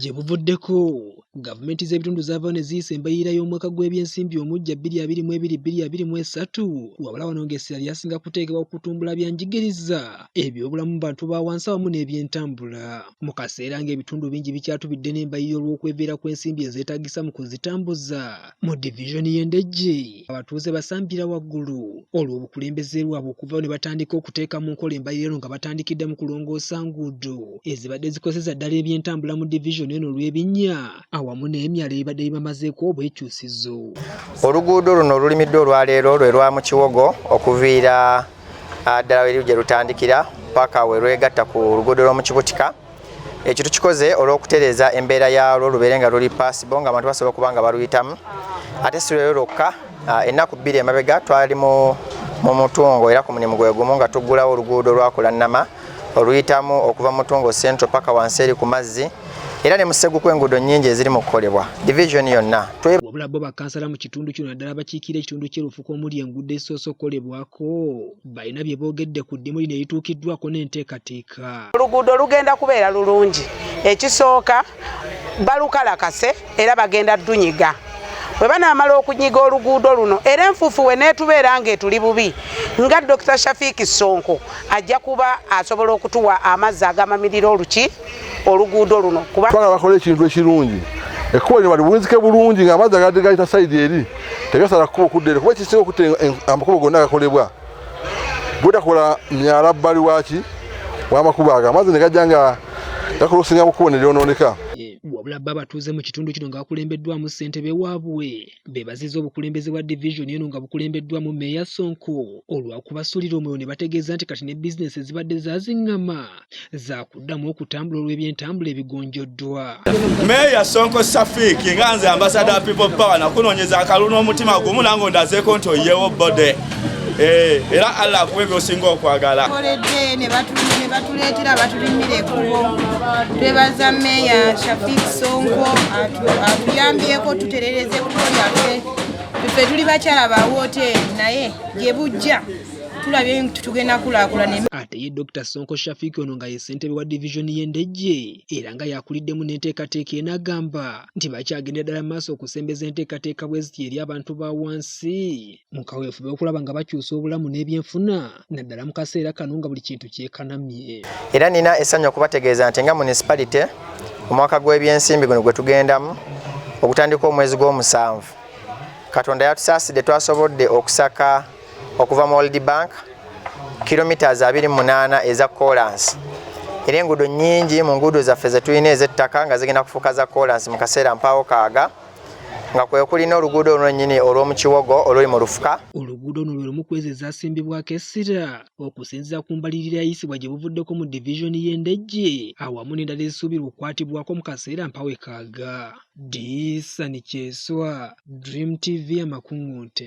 Gye buvuddeko gavumenti z'ebitundu zaava ne ziyisa embalirira y'omwaka gw'ebyensimbi omuggya bbiri abiri mu ebiri bbiri abiri mu esatu wabula wano ng'essira lyasinga kuteekebwa ku kutumbula bya njigiriza ebyobulamu mu bantu ba wansi awamu n'ebyentambula mu kaseera ng'ebitundu bingi bikyatubidde n'embalirira olw'okweveera kw'ensimbi ezeetaagisa mu kuzitambuza. mu divizoni y'e Ndejje abatuuze basambira waggulu olw'obukulembeze lwabwe okuvawo ne batandika okuteeka mu nkola embalirira eno nga batandikidde mu kulongoosa nguudo ezibadde zikozeza ddala ebyentambula mu divizoni eno olw'ebinnya awamu n'emyalo ebibadde bibamazeeko obwekyusizo oluguudo luno olulimiddwa olwaleero lwe lwa mu kiwogo okuviira ah, ddala weri gye lutandikira paka we lwegatta ku luguudo lw'omukibutika ekyo tukikoze olw'okutereeza embeera yaalwo lubeere nga luli paasibo nga abantu basobola okuba nga baluyitamu ate si lwero lwokka ah, ennaku bbiri emabega twali mu mutungo era ku mulimu gwe gumu nga tuggulawo oluguudo lwakulannama oluyitamu okuva mutungo central paka wansi eri ku mazzi era ne museguku enguudo nnyingi eziri mu kukolebwa division yonna wabula bo bakansala mu kitundu kino naddala abakiikira ekitundu kyerufuka omuli enguudo ezisoose okukolebwako balina bye boogedde ku ddimu lino erituukiddwako n'enteekateeka oluguudo lugenda kubeera lulungi ekisooka balukalakase era bagenda dunyiga bwe banaamala okunyiga oluguudo luno era enfuufu we neetubeera ng'etuli bubi nga dokita shafiiki ssonko ajja kuba asobola okutuwa amazzi agamamirira oluki oluguudo luno kuba twagala bakola ekintu ekirungi ekkubo lino balibunzike bulungi nga amazzi agadde gayita sayidi eri tegasala kkubo okudda eri kuba ekisinga okutta amakubo gonna agakolebwa bwetakola myala bbali waki wamakubo ago amazzi ne gajja nga gakola okusinga mu kkubo ne lyonooneka wabula bo abatuuze mu kitundu kino nga bakulembeddwamu ssentebe waabwe bebaziza obukulembeze bwa divizoni eno nga bukulembeddwamu meeya Sonko olwakubasulira omwoyo ne bategeeza nti kati ne bizinesi ezibadde zazingama zakuddamu okutambula olw'ebyentambula ebigonjoddwa meeya Sonko Safik nga nze ambasada people power nakunoonyeza akalulu n'omutima gumu nange ondazeeko nti oyewo bode Eh, era Allah akuwe byosinga okwagala koledde ne batuleetera batulimira ekubo twebaza meeya Shafik Sonko atuyambyeko tuterereze ekubo lyaffe ffe tuli bakyala ba wooteeri naye gye bujja tulabye nti tugenda kulaakulana ate ye dr sonko shafik ono nga ye ssentebe wa divizoni y'endejje era nga yakuliddemu n'enteekateeka eno agamba nti bakyagendera ddala maaso okusembeza enteekateeka bwe ziti eri abantu ba wansi mu kaweefube okulaba nga bakyusa obulamu n'ebyenfuna naddala mu kaseera kano nga buli kintu kyekanamye era nina essanyu okubategeeza nti nga munisipalite omwaka gw'ebyensimbi guno gwe tugendamu ogutandika omwezi gw'omusanvu katonda yatusaasidde twasobodde okusaka okuva mu world bank kilometres 28 eza kolansi era enguudo nyingi mu nguudo zaffe zetulina ezettaka nga zigenda kufuuka za kolansi mu kaseera mpaawo kaaga nga kwe kuli n'oluguudo olwennyini olw'omu kiwogo oluli mu lufuka oluguudo luno lwe lumu kwezi ezaasimbibwako essira okusinziira ku mbalirira yayisibwa gye buvuddeko mu divizoni y'endejje awamu n'endala ezisuubirwa okukwatibwako mu kaseera mpawekaaga disani kyeswa dream tv amakuŋŋunte